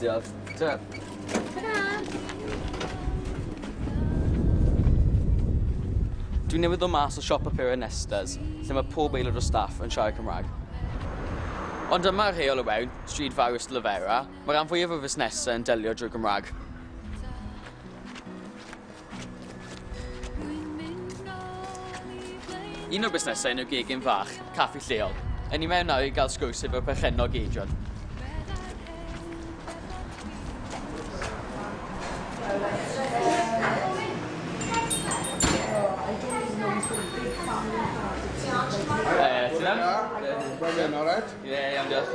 Diolch. Ta. Ta-ra! Dwi'n newydd ddod mas o siop apuro yn Nestas, lle mae pob aelod o staff yn siarad Cymraeg. Ond dyma rheol o wewn, stryd fawr Ystalyfera, mae rhan fwyaf o fusnesau yn delio drwy Gymraeg. Un o'r busnesau yn y gegin fach, caffi lleol. Yn i mewn nawr i gael sgwrs efo'r perchennog Adrian. Ti'n iawn? Ie, iawn diolch.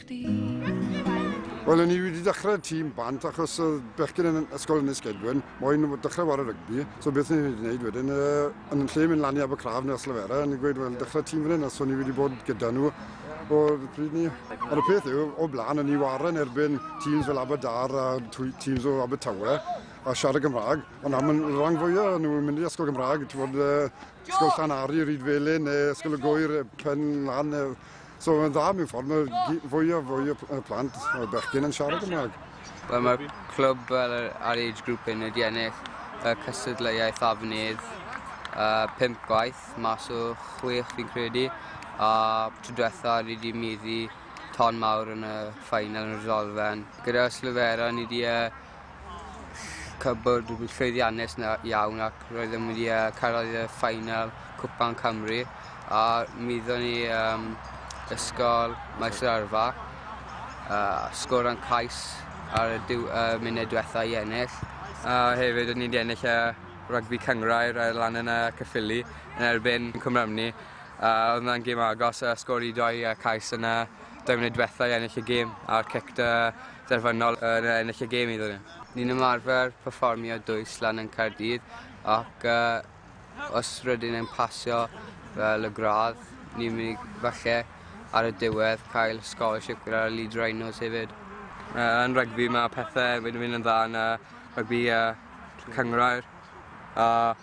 Wel, o'n i wedi dechrau tîm bant achos oedd bechgyn yn ysgol yn y Sgedwyn, moyn dechrau wario rygbi, so beth o'n i wedi gwneud wedyn, uh, yn lle mynd lan i Abercraf neu Slefera, o'n i'n gweud, wel, dechrau tîm fan hyn, os o'n i wedi bod gyda nhw o'r pryd ni. Ond y peth yw, o blaen, o'n i waren erbyn tîms fel Aberdar a tîms o Abertawe, a siarad Gymraeg, ond am y rhan fwyaf nhw yn mynd i ysgol Gymraeg, ti'n bod, uh, ysgol Llanari, Rhyd Felin, neu ysgol y Gwyr, Pen Lan, So mae'n dda mewn ffordd, mae fwy a fwy o plant o bechgyn yn siarad Gymraeg. Wel, mae'r clwb fel ar age group yn wedi ennill y cystadleuaeth afnydd uh, pimp gwaith mas o chwech fi'n credu a tro diwetha ni wedi meddu ton mawr yn y ffainal yn y Rydolfen. Gyda Slofera ni wedi uh, cwbl llwyddiannus 'na iawn ac roedd e'n mynd i yy cyrraedd y final Cwpan Cymru a mi ddo'n ni yym ysgol Maes yr Arfa a sgorant cais ar y diw- yy munud dwetha i ennill. A hefyd o'n ni 'di ennill y rygbi cynghrair yy lan yn yy Caerffili yn erbyn Cwmrymni a odd 'na'n gêm agos a sgor i doi yy cais yn y doi munud dwetha i ennill y gêm a'r cic 'da derfynol yn ennill y gêm iddon ni. Ni'n ymarfer perfformio dwys lan yn Caerdydd ac uh, os rydyn yn pasio fel y gradd, ni'n mynd i falle ar y diwedd cael scholarship gyda'r Leeds Rhinos hefyd. Uh, yn rygbi mae pethau wedi mynd yn dda yn uh, rygbi uh, cyngrair. Uh,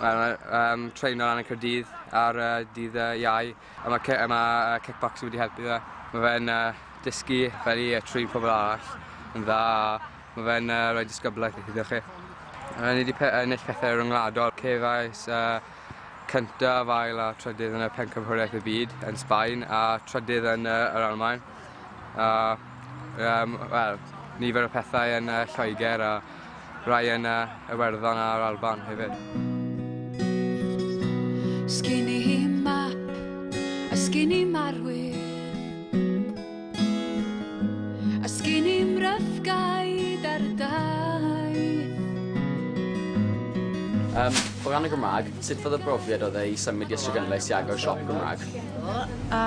um, treino lan y Cyrdydd ar uh, dydd uh, iau. A ma' ci- a ma' yy kickboxing wedi helpu fe. Ma' fe'n yy dysgu fel i yy trin pobol arall yn dda a ma' fe'n yy roi disgyblaeth iddo chi. Yy ni 'di pe- yy ennill pethe ryngwladol. Cefais y cyntaf, ail a trydydd yn y Pencampwriaeth y Byd yn Sbaen a trydydd yn yy yr Almaen. a yym wel nifer o pethau yn yy Lloeger a rai yn yy Iwerddon a'r Alban hefyd. Sgin i map a sgin i marwyr a sgin i mryfgaid ar y dau. Um, o ran y Gymraeg, sut fath o brofiad oedd e i symud i Ystrad Gynlais i agor siop Gymraeg? a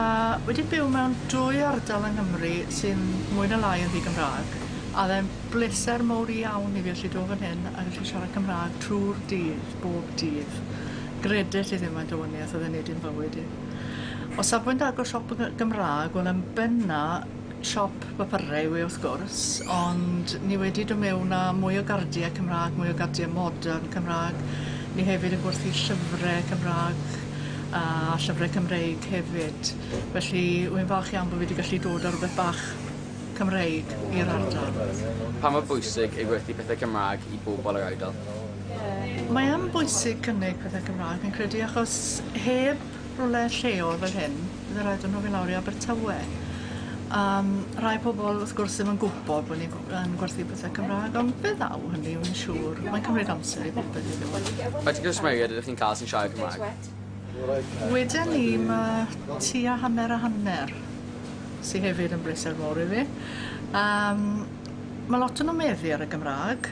wedi byw mewn dwy ardal yng Nghymru sy'n mwy na lai yn ddi-Gymra'g, a o'dd e'n bleser mowr iawn i fi allu do' fan hyn a gallu siarad Cymra'g trw'r dydd, bob dydd. Gredit i ddim faint o wanieth o'dd e'n neud i'n bywyd i. O safbwynt agor siop y Gymra'g, wel yn benna siop papurau yw e wrth gwrs, ond ni wedi do' mewn â mwy o gardie Cymra'g, mwy o gardie modern Cymra'g, ni hefyd yn gwerthu llyfre Cymra'g a llyfre Cymreig hefyd, felly wy'n falch iawn bo' fi 'di gallu dod â rwbeth bach Cymreig i'r ardal. Pa mor bwysig yw gwerthu pethe Cymra'g i bobol yr ardal? Mae yn bwysig cynnig pethe Cymra'g fi'n credu achos heb rwle lleol fel hyn Fydde raid o' n'w fyn' lawr i Abertawe. A yym rai pobol wrth gwrs ddim yn gwbod bo' ni gw- yn gwerthu pethe Cymra'g on' fe ddaw hynny wi'n siŵr. Mae'n cymryd amser i bopeth i ddewis. Faint o gwsmeriaid ydych chi'n ca'l sy'n siarad Cymraeg? Weda ni ma' tua hanner a hanner sy hefyd yn bleser mowr i fi. A yym ma' lot o' nw'n meddu ar y Gymra'g.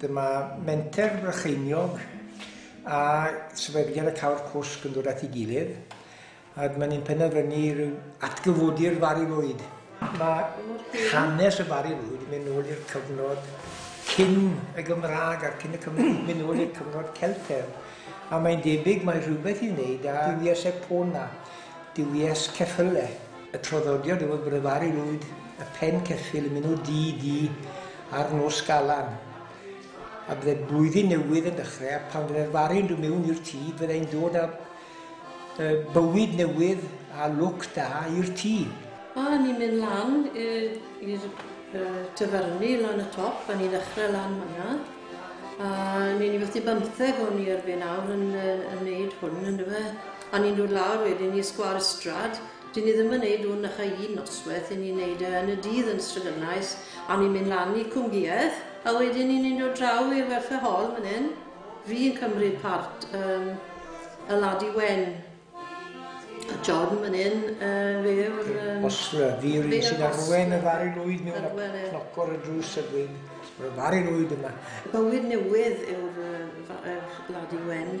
Dyma Menter Brycheiniog a Sefydliad y Cawr Cwsg yn dod at ei gilydd ac maen nhw'n penderfynu rhyw atgyfodi'r Fari Lwyd. Mae hanes y Fari Lwyd yn mynd nôl i'r cyfnod cyn y Gymraeg a'r cyn y Cymru, mynd nôl i'r cyfnod Celtedd. A mae'n debyg mae rhywbeth i wneud â duwies Epona, duwies ceffyle. Y traddodiad yw y brefaru lwyd y pen ceffyl yn mynwd du du ar Nos Galan. A bydde blwyddyn newydd yn dechrau, a pan fydde'r fari'n dod mewn i'r tŷ, byddai'n dod â uh, bywyd newydd a lwc da i'r tŷ. A ni'n mynd lan i'r uh, tyferni lan y top, a ni'n ddechrau lan fanna. A ni'n i fethu bymtheg o'n i erbyn awr yn, uh, yn neud hwn, yn dyfe? A ni'n dod lawr wedyn i Sgwâr Ystrad, 'dyn ni ddim yn neud hwn na chei un nosweth, 'yn ni'n neud e yn y dydd yn Stryganais, a ni'n mynd lan i Cwmgïedd, a wedyn ni ni'n dod draw i'r Welfare Hall myn 'yn, fi yn cymryd part yym y Ladi Wen, a John myn 'yn yy fe yw'r yym... Os yy fi yw'r un sy'n arwen y Fari Lwyd mewn a cnoc ar y drws a gweud, 'ma'r Fari Lwyd yma'. Bywyd newydd yw'r yy Fa- yy Ladi Wen.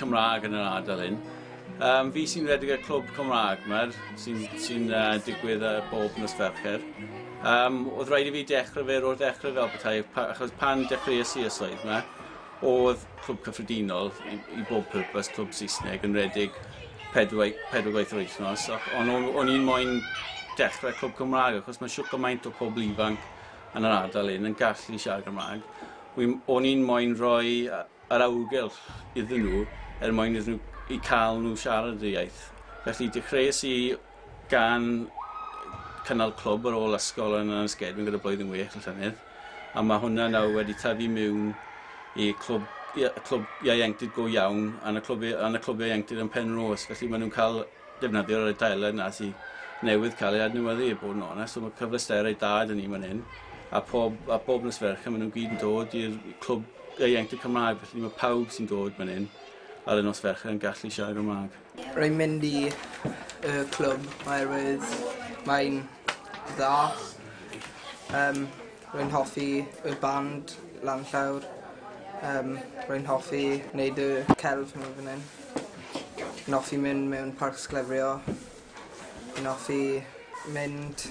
Cymraeg yn yr ardal hyn. Um, fi sy'n redeg y clwb Cymraeg mae'r sy'n sy uh, digwydd uh, bob nos Fercher. Um, oedd rhaid i fi dechrau fe o'r dechrau fel bethau, pa, achos pan dechreuais i y swydd yma, oedd clwb cyffredinol i, i bob pwrpas clwb Saesneg yn redeg pedwar, pedwar gwaith yr wythnos, ond o'n, on i'n moyn dechrau clwb Cymraeg, achos mae siwr gymaint o pobl ifanc yn yr ardal hyn yn gallu siarad Gymraeg. O'n i'n moyn rhoi yr awyrgylch iddyn nhw er mwyn iddyn nhw... i cael nhw siarad y iaith. Felly dechreuais i gan cynnal clwb ar ôl ysgol yn Anysgedwyn gyda Blwyddyn Wych y llynedd a mae hwnna nawr wedi tyfu miwn i clwb i- y clwb ieuenctid go iawn yn y clwb i- yn y clwb ieuenctid yn Penrose felly maen nhw'n cael defnyddio yr adeilen 'na sy newydd cael ei adnewyddu i bod yn onest so ma' cyfleusterau da 'da ni man 'yn a pob a pob nos Fercher ma' nw'n gyd yn dod i'r clwb ieuenctid Cymraeg felly ma' pawb sy'n dod man 'yn ar y nos Fercher yn gallu siarad Gymra'g. Rwy'n mynd i y clwb oherwydd mae'n dda yym Rwy'n hoffi y band lan llawr. Yym rwy'n hoffi neud y celf hwnnw fan 'yn. Rwy'n offi mynd mewn parc sglefrio. Rwy'n offi mynd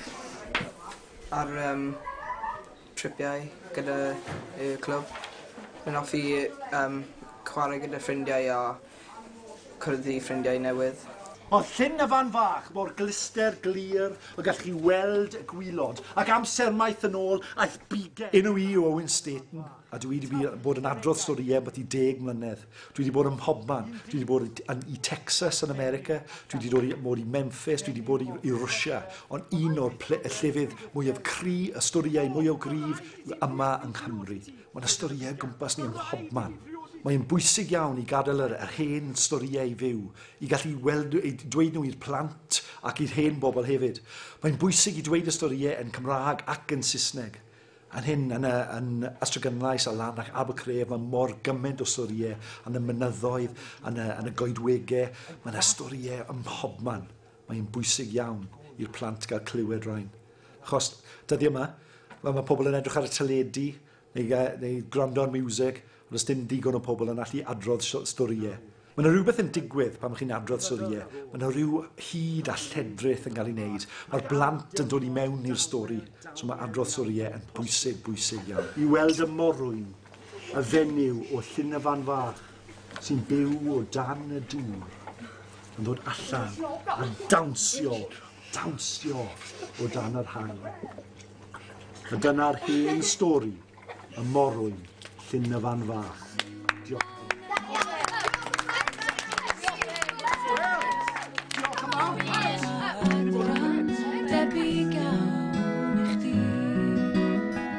ar yym tripiau gyda y clwb. Rwy'n offi yym chware gyda ffrindiau a cwrdd i ffrindiau newydd. Mae llyn y fan fach mor glister glir y gallwch chi weld y gwilod, ac amser maith yn ôl aeth bigen. Enw i yw Owen Staten, a dwi wedi bod yn adrodd storïau am byti deg mlynedd. Dwi wedi bod ym mhobman. Dwi wedi bod i, i Texas yn America, dwi wedi dod i, mod i Memphis, dwi wedi bod i, i Rwsia, ond un o'r ple, y llefydd mwyaf cry, y storïau mwyaf gryf, yw yma yng Nghymru. Mae yna storïau gwmpas ni ym mhobman. Mae'n bwysig iawn i gadael yr, yr hen storïau i fyw, i gallu weld, i dweud nhw i'r plant ac i'r hen bobl hefyd. Mae'n bwysig i dweud y storïau yn Cymraeg ac yn Saesneg. Yn hyn, yn, y, yn Astragynlais a lan ac Abercref, mae mor gymaint o storïau yn y mynyddoedd, yn y, yn y goedwegau, mae yna storïau ym mhobman. Mae'n bwysig iawn i'r plant gael clywed rhain. Achos dyddi yma, mae, mae pobl yn edrych ar y teledu neu, neu gwrando ar music, ond os dim digon o pobl yn allu adrodd storïau. Mae yna rhywbeth yn digwydd pan chi'n adrodd storïau. Mae yna rhyw hyd a lledrith yn cael ei wneud. Mae'r blant yn dod i mewn i'r stori. So mae adrodd storïau yn bwysig, bwysig iawn. I weld y morwyn, y fenyw o llyn y fan fach, sy'n byw o dan y dŵr yn dod allan a dawnsio, dawnsio o dan yr haul. A dyna'r hen stori y morwyn llyn y fan fach. Diolch. Debyg iawn i chdi